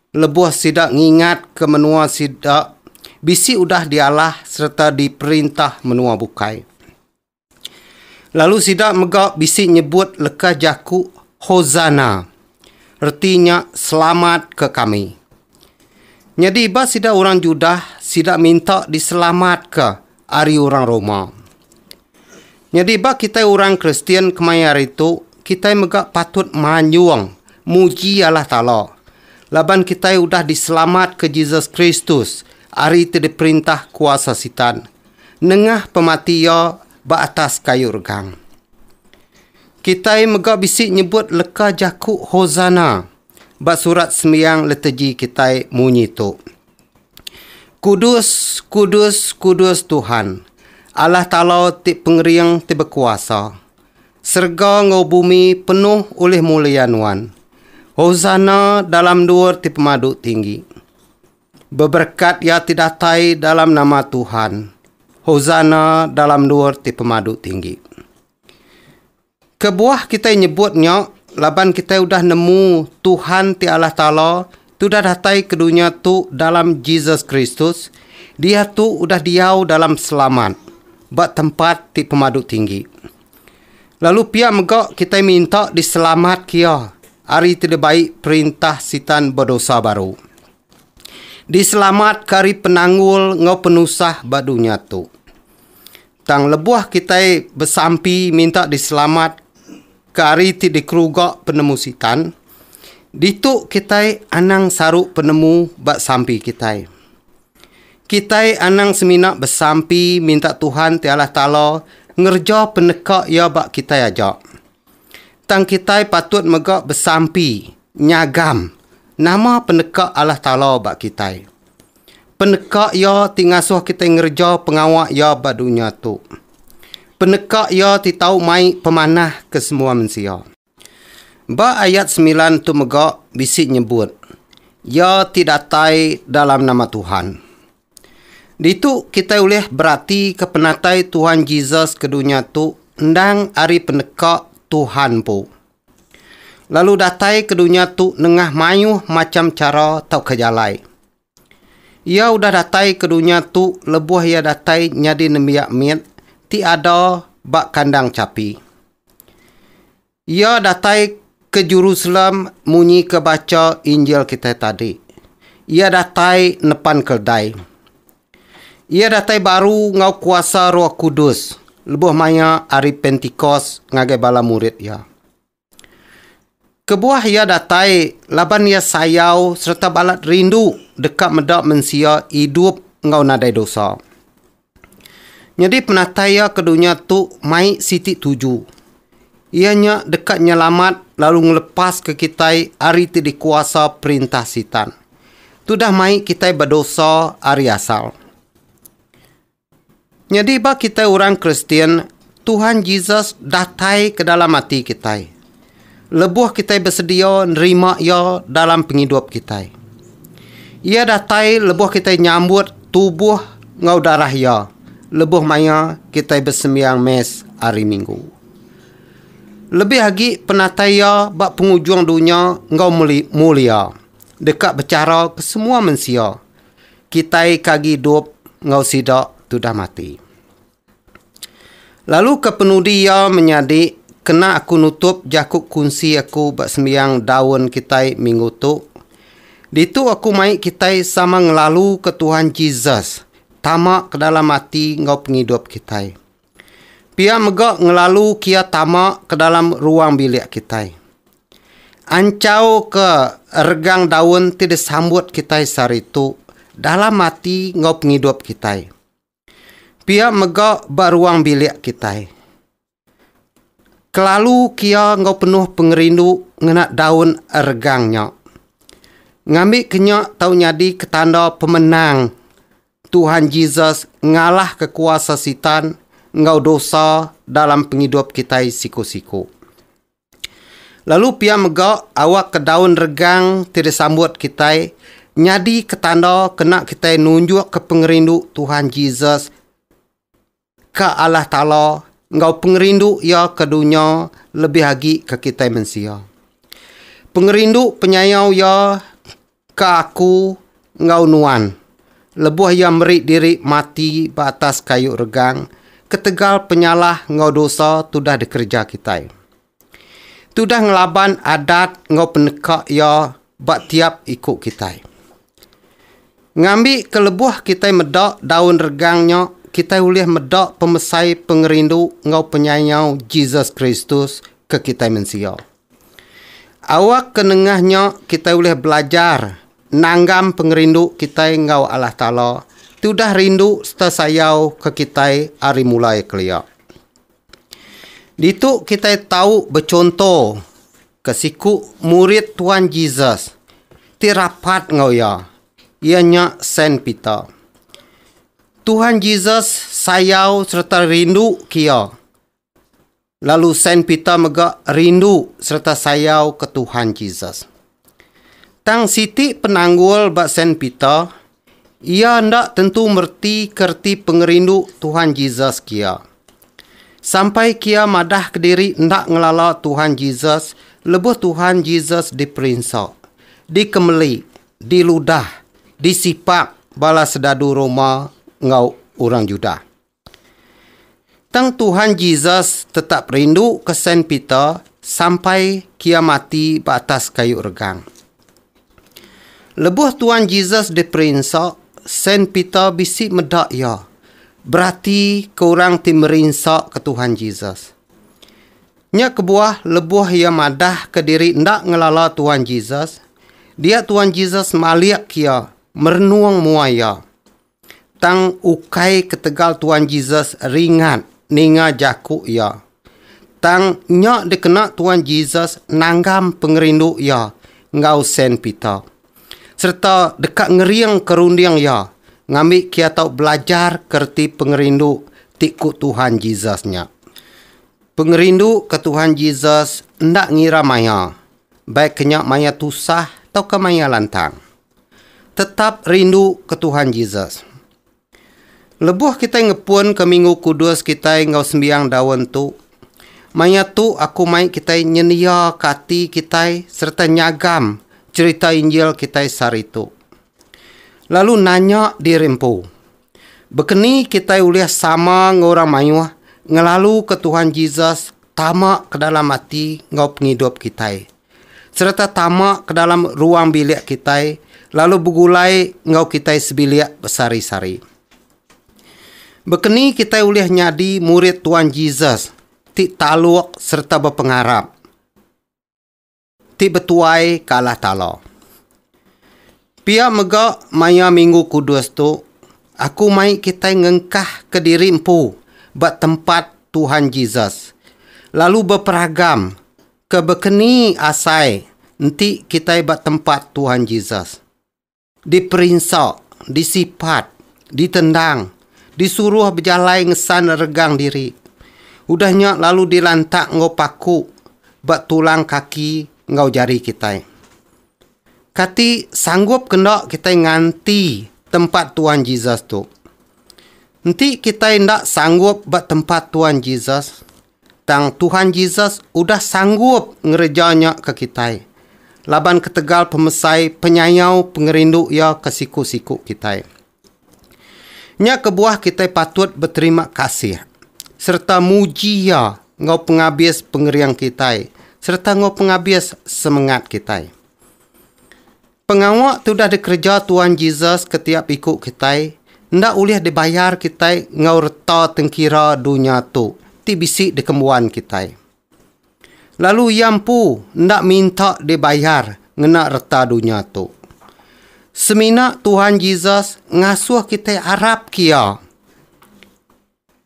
lebuh sida ngingat ke menua sida bisi udah dialah sereta diperintah menua bukai. Lalu sida mega bisi nyebut lekas jaku Hosanna, reti nya Selamatka kami. Nyadi ba sida orang Judah, sida minta diselamatka ari orang Roma. Nyadi ba kitai orang Kristian kemaya hari tu, kitai mega patut manjung muji Allah Taala laban kitai udah diselamatka Jesus Kristus ari ti diperintah kuasa Sitan. Nengah pemati iya ba atas kayu regang. Kitai mega bisi nyebut leka jaku Hosana ba surat sembiang letegi kitai munyi tu, Kudus, kudus, kudus Tuhan, Allah Taala ti Pengering ti Bekuasa. Serega enggau bumi penuh ulih mulia Nuan. Hosana dalam endur ti pemadu tinggi. Beberekat iya ti datai dalam nama Tuhan, Hosana dalam endur ti pemadu tinggi. Kebuah kitai nyebut nya laban kitai udah nemu Tuhan ti Allah Taala ti udah datai ke dunya tu dalam Jesus Kristus, diatu udah diau dalam selamat ba tempat ti pemadu tinggi. Lalu pia mega kitai minta diselamat ke iya ari ti dibai perintah Sitan bedosa baru. Diselamatka ari penanggul enggau penusah ba dunya tu. Tang lebuh kitai besampi minta diselamat ke ari ti dikeruga penemu Sitan, ditu kitai anang saru penemu ba sampi kitai. Kitai anang semina besampi minta Tuhan ti Allah Taala ngereja peneka Iya ba kitai aja. Tang kitai patut mega besampi nyagam nama peneka Allah Taala ba kitai. Peneka Iya ti ngasuh kitai ngereja pengawa Iya ba dunya tu. Peneka Iya ti tau mai pemanah ke semua mensia. Ba ayat semilan tu mega bisi nyebut Iya ti datai dalam nama Tuhan. Ditu kitai ulih beratika penatai Tuhan Jesus ke dunya tu endang ari peneka Tuhan empu. Lalu datai ke dunya tu nengah mayuh macham chara tauka jalai. Iya udah datai ke dunya tu lebuh iya datai nyadi nembiak mit ti ada ba kandang chapi. Iya datai ke Jerusalem munyika bacha Injil kitai tadi. Iya datai nepan keldai. Iya datai baru enggau kuasa Roh Kudus lebuh maya Hari Pentikos ngagai bala murid iya. Kebuah iya datai laban iya sayau sereta balat rindu deka meda mensia idup enggau nadai dosa. Nyadi penatai iya ke dunya tu mai siti tuju, iya nya deka nyelamat lalu ngelepaska kitai ari ti dikuasa perintah Sitan. Tudah mai kitai bedosa ari asal. Nyadi ba kitai orang Kristian, Tuhan Jesus datai ke dalam ati kitai lebuh kitai besedia nerima Iya dalam pengidup kitai. Iya datai lebuh kitai nyambut tubuh enggau darah Iya lebuh maya kitai besembiang Mass Hari Minggu. Lebih agi penatai Iya ba pengujung dunya enggau mulia deka bechara ke semua mensia. kitai ke agi idup enggau sida tudah mati. Lalu ke penudi iya menyadi kena aku nutup jaku kunsi aku ba sembiang daun kitai minggu tu. Ditu aku mai kitai sama ngelaluka Tuhan Jesus tama ke dalam ati enggau pengidup kitai. Pia mega ngelalu kia tama ke dalam ruang bilik kitai. Anchauka regang daun ti disambut kitai sehari tu dalam ati enggau pengidup kitai. Pia mega ba ruang bilik kitai. Kelalu kia enggau penuh pengerindu ngena daun regang nya. Ngambika nya tau nyadi ke tanda pemenang Tuhan Jesus ngalahka kuasa Sitan enggau dosa dalam pengidup kitai siku-siku. Lalu pia mega awakka daun regang ti disambut kitai nyadika tanda kena kitai nunjukka pengerindu Tuhan Jesus Ka Allah Taala enggau pengerindu Iya ke dunya lebih agi ke kitai mensia. Pengerindu penyayau Iya ke aku enggau nuan lebuh Iya meri diri mati ba atas kayu regang ketegal penyalah enggau dosa tudah dikereja kitai. Tudah ngelaban adat enggau peneka iya ba tiap iku kitai. Ngambi ke lebuh kitai meda daun regang nya, kitai ulih meda pemesai pengerindu enggau penyayau Jesus Kristus ke kitai mensia. Awak ke nengah nya kitai ulih belajar nanggam pengerindu kitai enggau Allah Taala tudah rindu sereta sayau ke kitai ari mulai kelia. Ditu kitai tau bechunto ke siku murid Tuan Jesus ti rapat enggau iya, iya nya Saint Peter. Tuan Jesus sayau sereta rindu ke iya, lalu Saint Peter mega rindu sereta sayau ke Tuan Jesus. Tang siti penanggul ba Saint Peter, iya enda tentu mereti ke reti pengerindu Tuhan Jesus kia. Sampai kia madah kediri enda ngelala Tuhan Jesus lebuh Tuhan Jesus diperinsa, dikemeli, diludah, disipak bala sedadu Roma enggau orang Judah. Tang Tuhan Jesus tetap rindu ke Saint Peter sampai kia mati ba atas kayu regang. Lebuh Tuan Jesus diperinsa, Saint Peter bisi meda iya berati ke orang ti merinsa ke Tuhan Jesus. Nya kebuah lebuh iya madah ke diri enda ngelala Tuan Jesus, dia Tuan Jesus malik iya merenung mua iya. Tang ukai ketegal Tuan Jesus ringat ninga jaku iya. Tang nya dikena Tuan Jesus nanggam pengerindu iya enggau Saint Peter, sereta deka ngeringka runding iya ngambi kiya tau belajar ke reti pengerindu ti ku Tuhan Jesus nya. Pengerindu ke Tuhan Jesus enda ngira maya, baik ke nya maya tusah tauka maya lantang. Tetap rindu ke Tuhan Jesus. Lebuh kitai ngepunka Minggu Kudus kitai enggau sembiang daun tu, maya tu aku mai kitai nyendiaka ati kitai sereta nyagam cherita Injil kitai sehari tu. Lalu nanya diri empu, baka ni kitai ulih sama enggau orang mayuh ngelaluka Tuhan Jesus tama ke dalam ati enggau pengidup kitai? sereta tama ke dalam ruang bilik kitai lalu begulai enggau kitai sebilik besehari-sehari. Bekeni kitai ulih nyadi murid Tuan Jesus ti taluk sereta bepengarap ti betuai ke Allah Taala? Pia mega maya Minggu Kudus tu, aku mai kitai ngengkahka diri empu ba tempat Tuhan Jesus lalu beperagam Ke bekeni asai enti kitai ba tempat Tuhan Jesus, diperinsa, disipat, ditendang, disuruh bejalai ngesan regang diri, udah nya lalu dilantak enggau paku ba tulang kaki enggau jari kitai. Kati sanggup ke enda kitai nganti tempat Tuhan Jesus tu? Enti kitai enda sanggup ba tempat Tuhan Jesus, Tang Tuhan Jesus udah sanggup ngereja nya ke kitai, laban ketegal pemesai penyayau pengerindu Iya ke siku-siku kitai. Nya kebuah kitai patut beterima kasih sereta muji Iya enggau pengabis pengering kitai sereta enggau pengabis semengat kitai. Pengawa ti udah dikereja Tuan Jesus ke tiap iku kitai enda ulih dibayar kitai enggau reta tengkira dunya tu ti bisi dikembuan kitai. Lalu iya empu enda minta dibayar ngena reta dunya tu. Semina Tuan Jesus ngasuh kitai arapka iya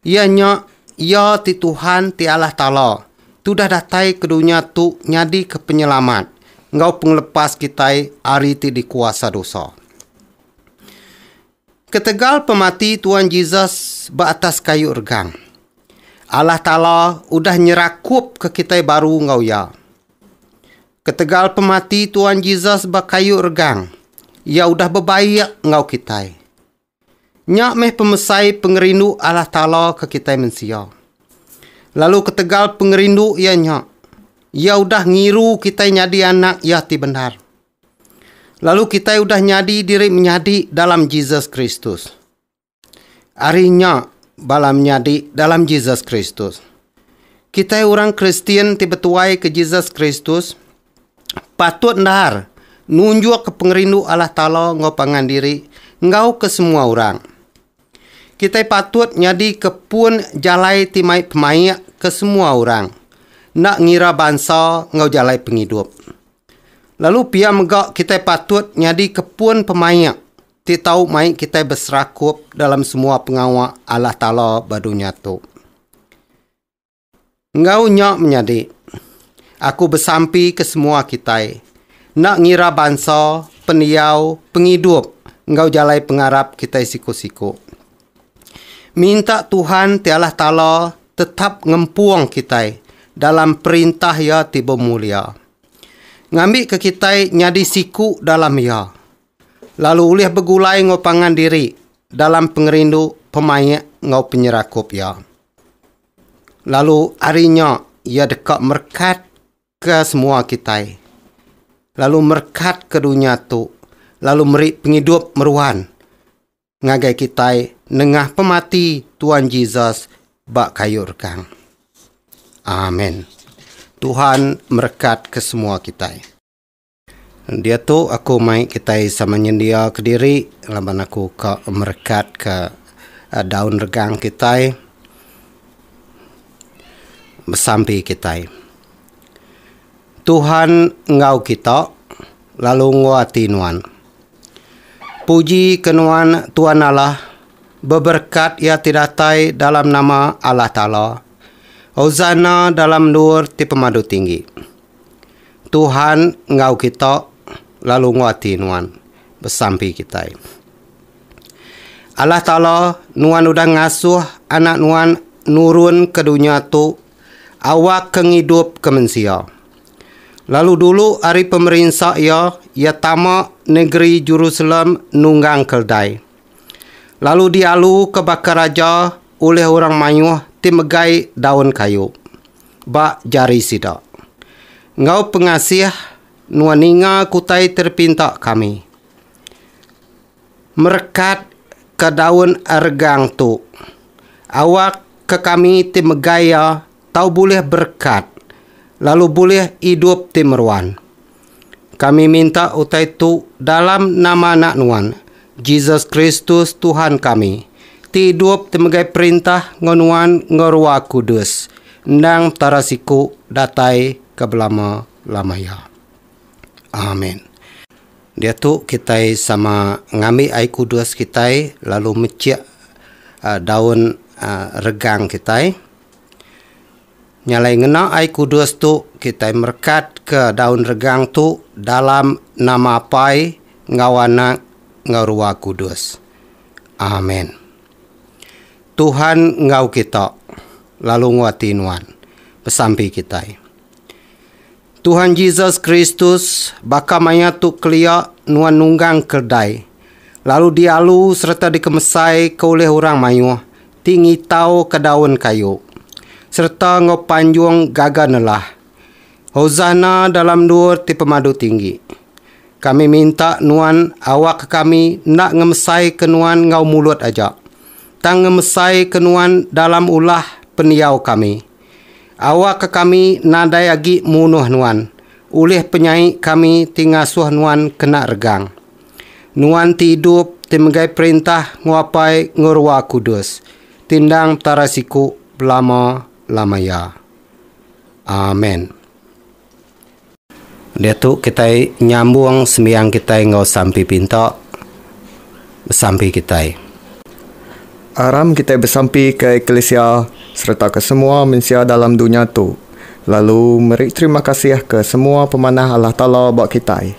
Iya nya, Iya ti Tuhan ti Allah Taala, ti udah datai ke dunya tu nyadika penyelamat enggau pengelepas kitai ari ti dikuasa dosa. Ketegal pemati Tuan Jesus ba atas kayu regang, Allah Taala udah nyerakupka kitai baru enggau Iya. Ketegal pemati Tuan Jesus ba kayu regang, Iya udah bebaik enggau kitai. Nya meh pemesai pengerindu Allah Taala ke kitai mensia. Lalu ketegal pengerindu iya nya, iya udah ngiru kitai nyadi anak iya ti bendar. Lalu kitai udah nyadi diri menyadi dalam Jesus Kristus. Ari nya bala menyadi dalam Jesus Kristus. Kitai orang Kristian ti betuai ke Jesus Kristus, patut endar nunjukka pengerindu Allah Taala enggau pangan diri enggau ke semua orang. Kitai patut nyadika pun jalai ti mai pemaik ke semua orang, enda ngira bansa enggau jalai pengidup. Lalu pia mega kitai patut nyadika pun pemaik ti tau mai kitai beserakup dalam semua pengawa Allah Taala ba dunya tu. Enggau nya menyadi, aku besampi ke semua kitai, enda ngira bansa, pendiau, pengidup enggau jalai pengarap kitai siku-siku, minta Tuhan ti Allah Taala tetap ngempung kitai dalam perintah Iya ti bemulia, ngambika kitai nyadi siku dalam Iya, lalu ulih begulai enggau pangan diri dalam pengerindu pemaik enggau penyerakup Iya. Lalu ari nya iya deka merekatka semua kitai, lalu merekatka dunya tu, lalu meri pengidup meruan ngagai kitai nengah pemati Tuan Jesus ba kayu rekang. Amen. Tuhan merekatka semua kitai. Diatu aku mai kitai sama nyendia kediri laban aku ka merekatka daun regang kitai besampi kitai. Tuhan enggau kita lalu enggau ati nuan. Puji ke nuan Tuan Allah beberekat iya ti datai dalam nama Allah Taala. Hosana dalam endur ti pemadu tinggi. Tuhan enggau kita lalu nguati nuan besampi kitai. Allah Taala, nuan udah ngasuh Anak nuan nurun ke dunya tu awakka ngidupka mensia. Lalu dulu ari pemerinsa iya, iya tama negeri Jerusalem nunggang keldai, lalu dialuka baka raja ulih orang mayuh ti megai daun kayu. ba jari sida. Enggau pengasih nuan ninga ke utai ti dipinta kami. Merekat ke daun regang tu. Awak ke kami ti megai iya tau bulih berekat lalu bulih idup ti meruan. Kami minta utai tu dalam nama Anak Nuan, Jesus Kristus, Tuhan kami, ti idup ti megai perintah enggau Nuan enggau Rua Kudus, endang Petara siku datai ke belama-lama iya. Amen. Diatu kitai sama ngambi ai kudus kitai lalu mechik daun regang kitai. Nya alai ngena Ai Kudus tu kitai merekatka daun regang tu dalam nama Apai enggau Anak enggau Ruah Kudus. Amen. Tuhan enggau kita, lalu nguati nuan. Besampi kitai. Tuhan Jesus Kristus baka maya tu kelia nuan nunggang keldai, lalu dialu sereta dikemesaika ulih orang mayuh ti ngitauka daun kayu, sereta enggau panjung gaga nelah, Hosana dalam endur ti pemadu tinggi. Kami minta nuan awakka kami enda ngemesaika nuan enggau mulut aja, tang ngemesaika nuan dalam ulah pendiau kami, Awakka kami nadai agi munuh nuan, ulih penyai kami ti ngasuh nuan kena regang. Nuan ti idup, ti megai perintah nguapai enggau Ruah Kudus, ti endang Petara siku belama-lama iya. Amen. Diatu kitai nyambung sembiang kitai enggau sampi pinta besampi kitai. Aram kitai besampi ke eklisia sereta ke semua mensia dalam dunya tu, lalu meri terima kasih ke semua pemanah Allah Taala ba kitai.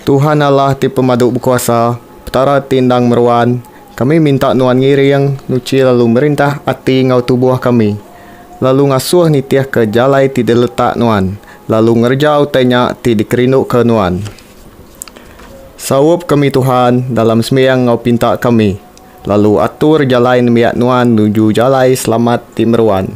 Tuhan Allah ti Pemadu Bekuasa, Petara ti endang meruan, kami minta Nuan ngiring, nuchi lalu merintah ati enggau tubuh kami, lalu ngasuh nitihka jalai ti diletak Nuan, lalu ngereja utai nya ti dikerinduka Nuan. Saup kami Tuhan dalam sembiang enggau pinta kami, lalu atur jalai nembiak Nuan nuju jalai selamat ti meruan.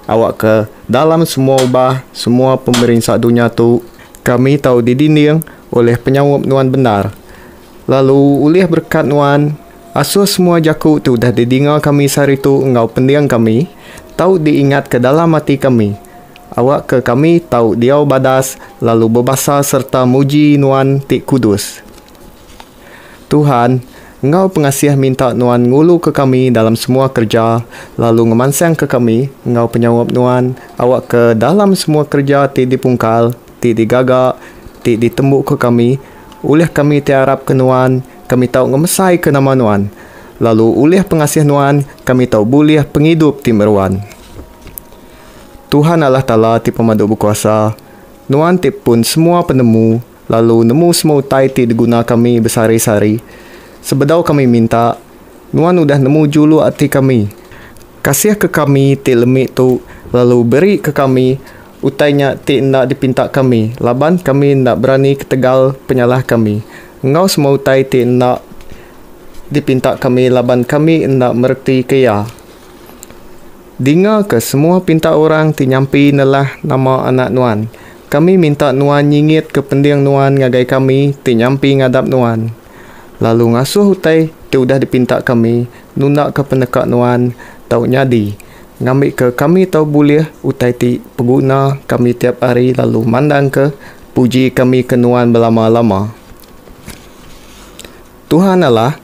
Awakka dalam semua ubah semua pemerinsa dunya tu. Kami tau didinding ulih penyaup nuan bendar. Lalu ulih berekat nuan, asuh semua jaku ti udah didinga kami sehari tu enggau pending kami tau diingatka dalam ati kami. Awakka kami tau diau badas lalu bebasa sereta muji nuan ti kudus. Tuhan, enggau pengasih minta Nuan nguluka kami dalam semua kereja lalu ngemansangka kami enggau penyaup Nuan awakka dalam semua kereja ti dipungkal, ti digaga, ti ditembuka kami, ulih kami ti arapka Nuan, kami tau ngemesaika nama Nuan, lalu ulih pengasih Nuan kami tau bulih pengidup ti meruan. Tuhan Allah Taala ti Pemadu Bekuasa, Nuan ti pun semua penemu, lalu nemu semua utai ti diguna kami besehari-sehari, sebedau kami minta, Nuan udah nemu juluk ati kami, kasihka kami ti lemi tu lalu berika kami utai nya ti enda dipinta kami laban kami enda berani ketegal penyalah kami, enggau semua utai ti enda dipinta kami laban kami enda meretika iya. Dingaka semua pinta orang ti nyampi nelah nama Anak Nuan. Kami minta nuan nyingitka pending nuan ngagai kami ti nyampi ngadap nuan, lalu ngasuh utai ti udah dipinta kami nundaka peneka nuan tau nyadi, ngambika kami tau bulih utai ti peguna kami tiap ari lalu mandangka puji kami ke nuan belama-lama. Tuhan Allah,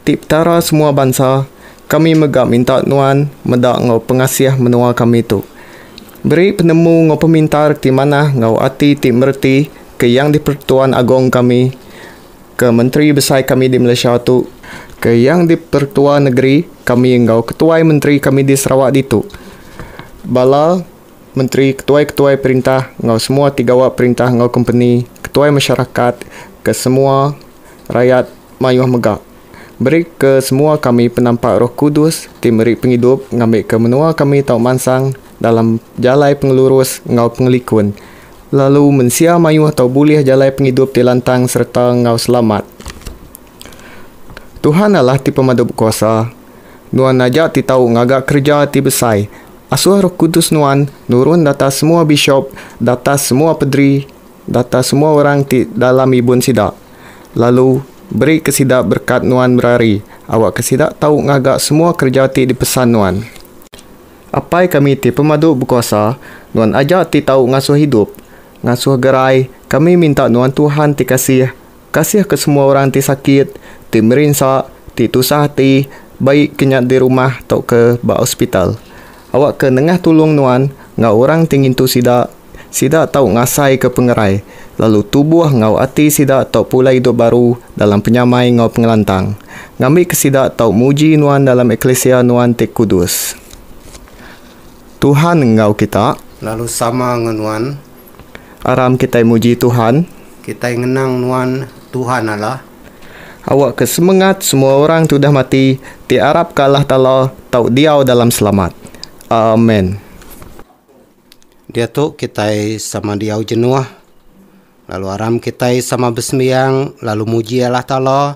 ti Petara semua bansa, Kami mega minta nuan meda enggau pengasih menua kami tu. Beri penemu enggau pemintar ti manah enggau ati ti mereti ke Yang di-pertuan Agong kami, ke Menteri Besai kami di Malaysia tu, ke Yang di-pertua Negeri kami enggau ketuai menteri kami di Sarawak ditu, bala menteri, ketuai-ketuai perintah enggau semua ti gawa perintah enggau kompeni, ketuai masyarakat, ke semua rayat mayuh mega. Meri ke semua kami penampak Roh Kudus ti meri pengidup ngambika menua kami tau mansang dalam jalai pengelurus enggau pengelikun, lalu mensia mayuh tau bulih jalai pengidup ti lantang sereta enggau selamat. Tuhan Allah ti Pemadu Bekuasa, Nuan aja ti tau ngaga kereja ti besai. Asuh Roh Kudus Nuan nurun datas semua bishop, datas semua pederi, datas semua orang ti dalam ibun sida. Lalu, berika sida berekat nuan berari, awakka sida tau ngaga semua kereja ti dipesan nuan. Apai kami ti pemadu bekuasa, nuan aja ti tau ngasuh idup, ngasuh gerai, kami minta nuan Tuhan ti kasih, kasihka semua orang ti sakit, ti merinsa, ti tusah ati, baik ke nya di rumah tauka ba hospital. Awakka nengah tulung nuan enggau orang ti ngintu sida, sida tau ngasaika pengerai, lalu tubuh enggau ati sida tau pulai idup baru dalam penyamai enggau pengelantang, ngambika sida tau muji nuan dalam eklisia nuan ti kudus. Tuhan enggau kita. Lalu sama enggau nuan. Aram kitai muji Tuhan. Kitai ngenang nuan, Tuhan Allah. Awakka semengat semua orang ti udah mati ti arapka Allah Taala tau diau dalam selamat. Amen. Diatu kitai sama diau jenuh, lalu aram kitai sama besembiang lalu muji Allah Taala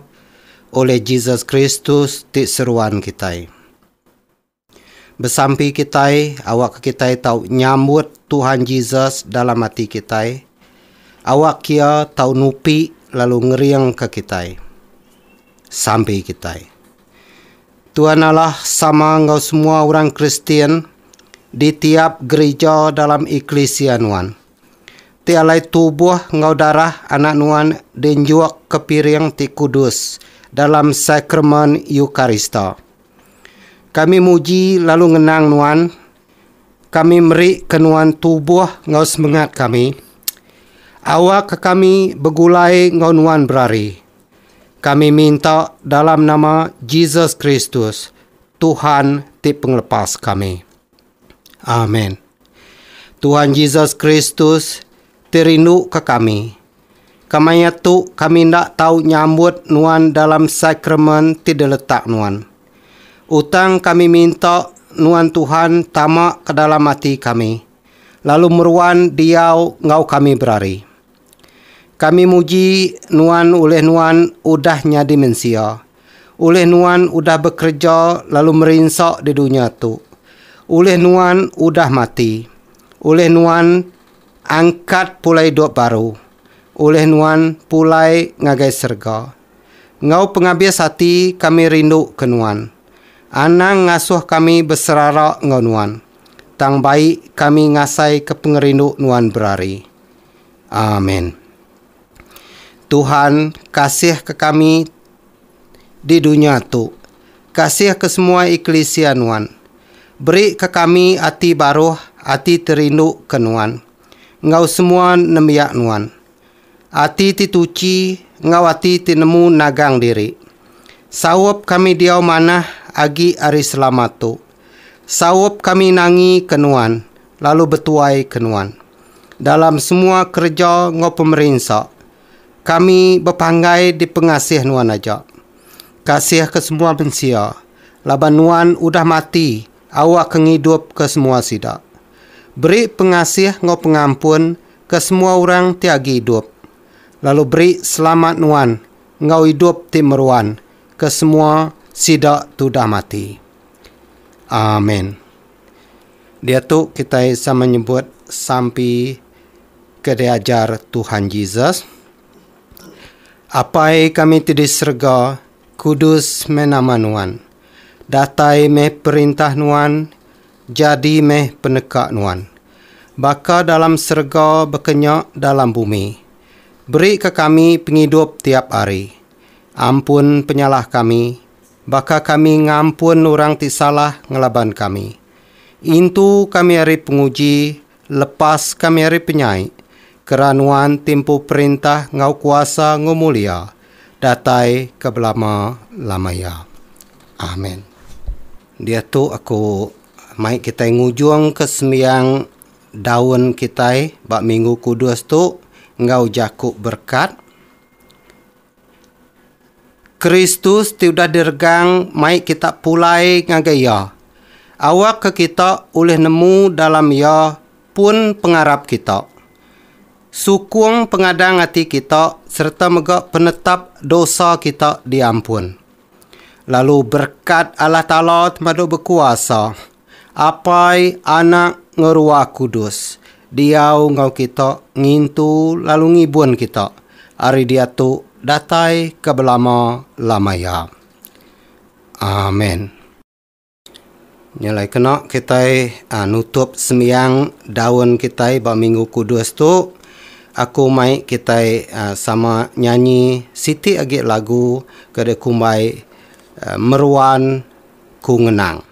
oleh Jesus Kristus ti seruan kitai. Besampi kitai awakka kitai tau nyambut Tuhan Jesus dalam ati kitai, awak Iya tau nupi lalu ngeringka kitai. Sampi kitai. Tuhan Allah sama enggau semua orang Kristian di tiap gerija dalam eklisia nuan. Ti alai tubuh enggau darah anak nuan dinjukka piring ti kudus dalam Sakramen Eukarista. Kami muji lalu ngenang Nuan. Kami meri ke Nuan tubuh enggau semengat kami. Awakka kami begulai enggau Nuan berari. Kami minta dalam nama Jesus Kristus, Tuhan ti Pengelepas kami. Amen. Tuhan Jesus Kristus ti rinduka kami. Kemaya tu kami enda tau nyambut nuan dalam sakramen ti diletak nuan. Utang kami minta nuan Tuhan tama ke dalam ati kami, lalu meruan diau enggau kami berari. Kami muji Nuan ulih Nuan udah nyadi mensia, ulih Nuan udah bekereja lalu merinsa di dunya tu, ulih Nuan udah mati, ulih Nuan angkat pulai idup baru, ulih Nuan pulai ngagai serega. Enggau pengabis ati kami rinduka Nuan. Anang ngasuh kami beserara enggau Nuan, tang baik kami ngasaika pengerindu Nuan berari. Amen. Tuhan kasih ke kami di dunya tu, kasih ke semua eklisia Nuan. Beri ke kami ati baruh, ati ti rindu ke Nuan, enggau semua nembiak Nuan. Ati ti tuchi enggau ati ti nemu nagang diri. Saup kami diau manah agi ari selama tu. Saup kami nangi ke Nuan lalu betuai ke nuan. Dalam semua kereja enggau pemerinsa, kami bepanggai dipengasih nuan aja. Kasih ke semua mensia, laban nuan udah mati awa ke ngidup ke semua sida. Beri pengasih enggau pengampun ke semua orang ti agi idup, lalu beri selamat nuan enggau idup ti meruan ke semua sida tudah mati. Amen. Diatu kitai sama nyebut sampi ke diajar Tuhan Jesus, Apai kami ti di serega, kudus meh nama nuan. Datai meh perintah nuan, jadi meh peneka nuan. Baka dalam serega baka nya dalam bumi. Beri ka kami pengidup tiap hari. Ampun penyalah kami, baka kami ngampun orang ti salah ngelaban kami. Intu kami ari penguji, lepas kami ari penyai, kera Nuan ti empu perintah enggau kuasa enggau mulia, datai ke belama-lama iya. Amen. Diatu aku mai kitai ngujungka sembiang daun kitai ba Minggu Kudus tu enggau jaku berkat. Kristus ti udah diregang mai kita pulai ngagai Iya, awakka kita ulih nemu dalam Iya pun pengarap kita. Sukung pengadang ati kita sereta mega penetap dosa kita diampun. Lalu berkat Allah Taala temadu bekuasa, Apai, Anak, enggau Ruah Kudus, diau enggau kita ngintu lalu ngibun kita ari diatu datai ke belama-lama iya. Amen. Nya alai kena kitai ah, nutup sembiang daun kitai ba Minggu Kudus tu, aku mai kitai ah, sama nyanyi siti agi lagu ke dikumbai ah, Meruan Ku Ngenang.